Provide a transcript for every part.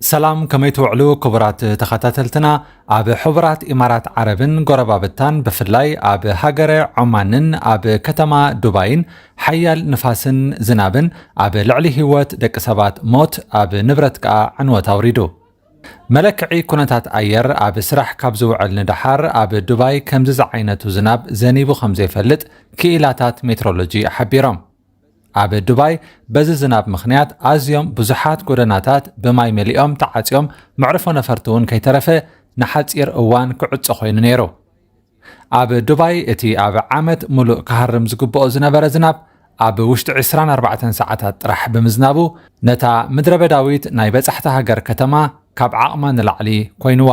ሰላም ከመይ ትውዕሉ ክቡራት ተኸታተልትና ኣብ ሕቡራት ኢማራት ዓረብን ጎረባብታን ብፍላይ ኣብ ሃገረ ዖማንን ኣብ ከተማ ዱባይን ሓያል ንፋስን ዝናብን ኣብ ልዕሊ ህይወት ደቂ ሰባት ሞት ኣብ ንብረት ከኣ ዕንወት ኣውሪዱ መለክዒ ኩነታት ኣየር ኣብ ስራሕ ካብ ዝውዕል ንደሓር ኣብ ዱባይ ከምዚ ዝዓይነቱ ዝናብ ዘኒቡ ከም ዘይፈልጥ ክኢላታት ሜትሮሎጂ ሓቢሮም። ኣብ ዱባይ በዚ ዝናብ ምኽንያት ኣዝዮም ብዙሓት ጎደናታት ብማይ መሊኦም ተዓጽዮም መዕርፎ ነፈርቲ እውን ከይተረፈ ንሓጺር እዋን ክዕጾ ኮይኑ ነይሩ። ኣብ ዱባይ እቲ ኣብ ዓመት ሙሉእ ክሃርም ዝግብኦ ዝነበረ ዝናብ ኣብ ውሽጢ 24 ሰዓታት ጥራሕ ብምዝናቡ ነታ ምድረበዳዊት ናይ በጻሕቲ ሃገር ከተማ ካብ ዓቕማ ንላዕሊ ኮይኑዋ።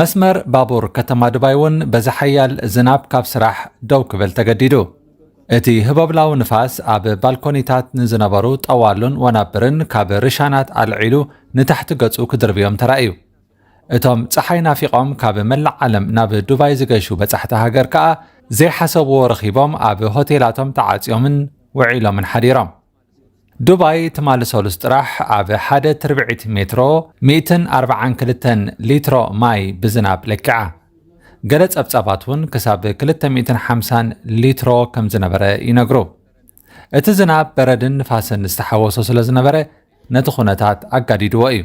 መስመር ባቡር ከተማ ዱባይ'ውን በዚ ሓያል ዝናብ ካብ ስራሕ ደው ክብል ተገዲዱ። እቲ ህቦብላዊ ንፋስ ኣብ ባልኮኒታት ንዝነበሩ ጠዋሉን ወናብርን ካብ ርሻናት ኣልዒሉ ንታሕቲ ገጹ ክድርብዮም ተራእዩ። እቶም ጸሓይ ናፊቖም ካብ መላእ ዓለም ናብ ዱባይ ዝገሹ በጻሕቲ ሃገር ከኣ ዘይሓሰብዎ ረኺቦም ኣብ ሆቴላቶም ተዓጽዮምን ውዒሎምን ሓዲሮም። ዱባይ ትማሊ ሰሉስ ጥራሕ ኣብ ሓደ ትርብዒት ሜትሮ ሚእትን ኣርብዓን ክልተን ሊትሮ ማይ ብዝናብ ለኪዓ። ገለ ጸብጻባት እውን ክሳብ ክልተ ሚእትን ሓምሳን ሊትሮ ከም ዝነበረ ይነግሩ። እቲ ዝናብ በረድን ንፋስን ዝተሓወሶ ስለ ዝነበረ ነቲ ኩነታት ኣጋዲድዎ እዩ።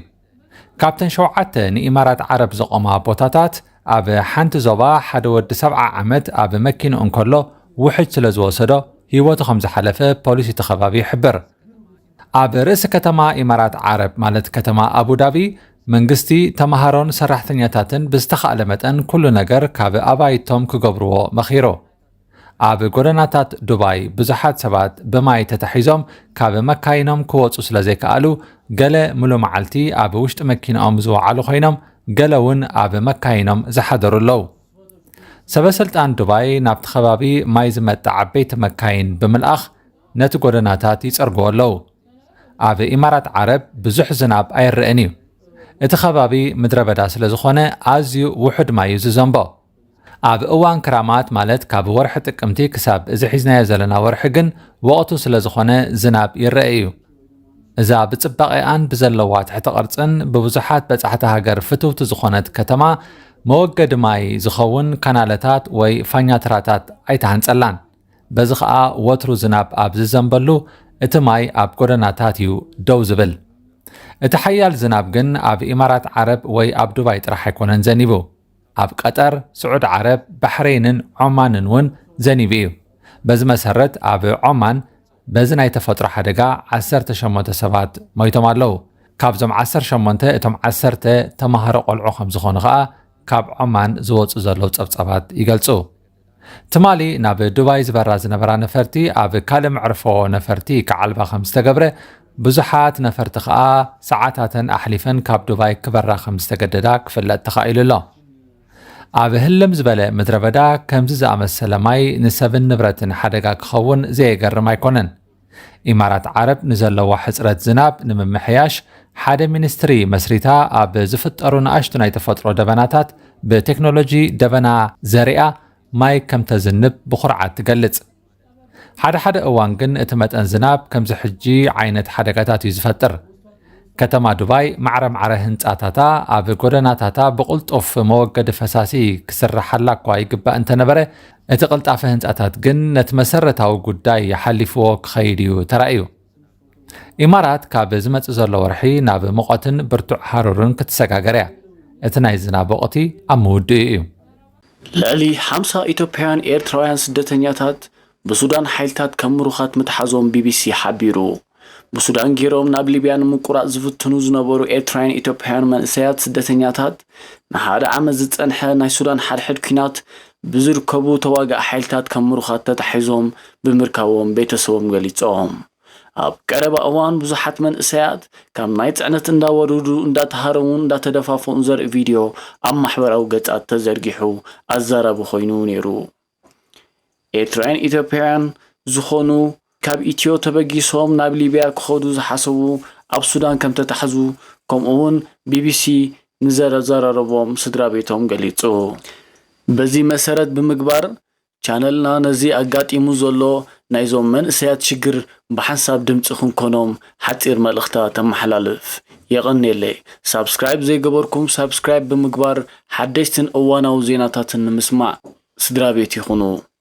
ካብተን ሸውዓተ ንኢማራት ዓረብ ዘቖማ ቦታታት ኣብ ሓንቲ ዞባ ሓደ ወዲ ሰብዓ ዓመት ኣብ መኪንኡ እንከሎ ውሕጅ ስለ ዝወሰዶ ህይወቱ ከም ዝሓለፈ ፖሊስ እቲ ከባቢ ይሕብር። ኣብ ርእሲ ከተማ ኢማራት ዓረብ ማለት ከተማ ኣቡዳቢ መንግስቲ ተምሃሮን ሰራሕተኛታትን ብዝተኻእለ መጠን ኩሉ ነገር ካብ ኣባይቶም ክገብርዎ መኺሩ። ኣብ ጎደናታት ዱባይ ብዙሓት ሰባት ብማይ ተታሒዞም ካብ መካይኖም ክወጹ ስለ ዘይከኣሉ ገለ ምሉ መዓልቲ ኣብ ውሽጢ መኪናኦም ዝወዓሉ ኮይኖም ገለ እውን ኣብ መካይኖም ዝሓደሩ ኣለዉ። ሰበስልጣን ዱባይ ናብቲ ከባቢ ማይ ዝመጣ ዓበይቲ መካይን ብምልኣኽ ነቲ ጎደናታት ይጸርግዎ ኣለዉ። ኣብ ኢማራት ዓረብ ብዙሕ ዝናብ ኣይረአን እዩ። እቲ ከባቢ ምድረ በዳ ስለ ዝኾነ ኣዝዩ ውሑድ ማይ እዩ ዝዘንቦ። ኣብ እዋን ክራማት ማለት ካብ ወርሒ ጥቅምቲ ክሳብ እዚ ሒዝናዮ ዘለና ወርሒ ግን ወቕቱ ስለ ዝኾነ ዝናብ ይረአ እዩ። እዛ ብጽባቐኣን ብዘለዋ ትሕቲ ቅርጽን ብብዙሓት በጻሕቲ ሃገር ፍትውቲ ዝኾነት ከተማ መወገዲ ማይ ዝኸውን ካናለታት ወይ ፋኛትራታት ኣይተሃንጸላን። በዚ ኸኣ ወትሩ ዝናብ ኣብ ዝዘንበሉ እቲ ማይ ኣብ ጎደናታት እዩ ደው ዝብል። እቲ ሓያል ዝናብ ግን ኣብ ኢማራት ዓረብ ወይ ኣብ ዱባይ ጥራሕ ኣይኮነን ዘኒቡ። ኣብ ቀጠር፣ ስዑድ ዓረብ፣ ባሕረይንን ዖማንን እውን ዘኒቡ እዩ። በዚ መሰረት ኣብ ዖማን በዚ ናይ ተፈጥሮ ሓደጋ ዓሰርተ ሸሞንተ ሰባት ሞይቶም ኣለዉ። ካብዞም ዓሰርተ ሸሞንተ እቶም ዓሰርተ ተማሃሮ ቆልዑ ከም ዝኾኑ ከኣ ካብ ዖማን ዝወጹ ዘለዉ ጸብጻባት ይገልጹ። ትማሊ ናብ ዱባይ ዝበራ ዝነበራ ነፈርቲ ኣብ ካልእ መዕርፎ ነፈርቲ ክዓልባ ከም ዝተገብረ ብዙሓት ነፈርቲ ከኣ ሰዓታተን ኣሕሊፈን ካብ ዱባይ ክበራ ከም ዝተገደዳ ክፍለጥ ተኻኢሉ ኣሎ። ኣብ ህልም ዝበለ ምድረ በዳ ከምዚ ዝኣመሰለ ማይ ንሰብን ንብረትን ሓደጋ ክኸውን ዘየገርም ኣይኮነን። ኢማራት ዓረብ ንዘለዋ ሕጽረት ዝናብ ንምምሕያሽ ሓደ ሚኒስትሪ መስሪታ ኣብ ዝፍጠሩ ንኣሽቱ ናይ ተፈጥሮ ደበናታት ብቴክኖሎጂ ደበና ዘሪኣ ማይ ከም ተዝንብ ብኹርዓት ትገልጽ። ሓደ ሓደ እዋን ግን እቲ መጠን ዝናብ ከምዚ ሕጂ ዓይነት ሓደጋታት እዩ ዝፈጥር። ከተማ ዱባይ ማዕረማዕረ ህንፃታታ ኣብ ጎደናታታ ብቕልጡፍ መወገዲ ፈሳሲ ክስርሓላ እኳ ይግባእ እንተነበረ እቲ ቅልጣፈ ህንፃታት ግን ነቲ መሰረታዊ ጉዳይ ሓሊፍዎ ክኸይድ እዩ ተራእዩ። ኢማራት ካብ ዝመፅእ ዘሎ ወርሒ ናብ ሙቐትን ብርቱዕ ሃሩርን ክትሰጋገር እያ። እቲ ናይ ዝናብ ወቕቲ ኣብ ምውድኡ እዩ። ልዕሊ ሓምሳ ኢትዮጵያውያን ኤርትራውያን ስደተኛታት ብሱዳን ሓይልታት ከም ምሩኻት ምትሓዞም ቢቢሲ ሓቢሩ። ብሱዳን ጌሮም ናብ ሊብያ ንምቁራጽ ዝፍትኑ ዝነበሩ ኤርትራውያን ኢትዮጵያውያን መንእሰያት ስደተኛታት ንሓደ ዓመት ዝጸንሐ ናይ ሱዳን ሓድሕድ ኲናት ብዝርከቡ ተዋጋኢ ሓይልታት ከም ምሩኻት ተታሒዞም ብምርካቦም ቤተሰቦም ገሊጾም። ኣብ ቀረባ እዋን ብዙሓት መንእሰያት ካብ ናይ ጽዕነት እንዳወርዱ እንዳተሃረሙን እንዳተደፋፍኡን ዘርኢ ቪድዮ ኣብ ማሕበራዊ ገጻት ተዘርጊሑ ኣዛራቢ ኮይኑ ነይሩ። ኤርትራውያን ኢትዮጵያውያን ዝኾኑ ካብ ኢትዮ ተበጊሶም ናብ ሊብያ ክኸዱ ዝሓሰቡ ኣብ ሱዳን ከምተታሕዙ ከምኡ'ውን ቢቢሲ ንዘዘራረቦም ስድራቤቶም ገሊጹ። በዚ መሰረት ብምግባር ቻነልና ነዚ ኣጋጢሙ ዘሎ ናይዞም መንእሰያት ሽግር ብሓንሳብ ድምጺ ክንኮኖም ሓጺር መልእኽታ ተመሓላልፍ። የቐኔለይ! ሳብስክራይብ ዘይገበርኩም ሳብስክራይብ ብምግባር ሓደሽትን እዋናዊ ዜናታትን ንምስማዕ ስድራቤት ይኹኑ።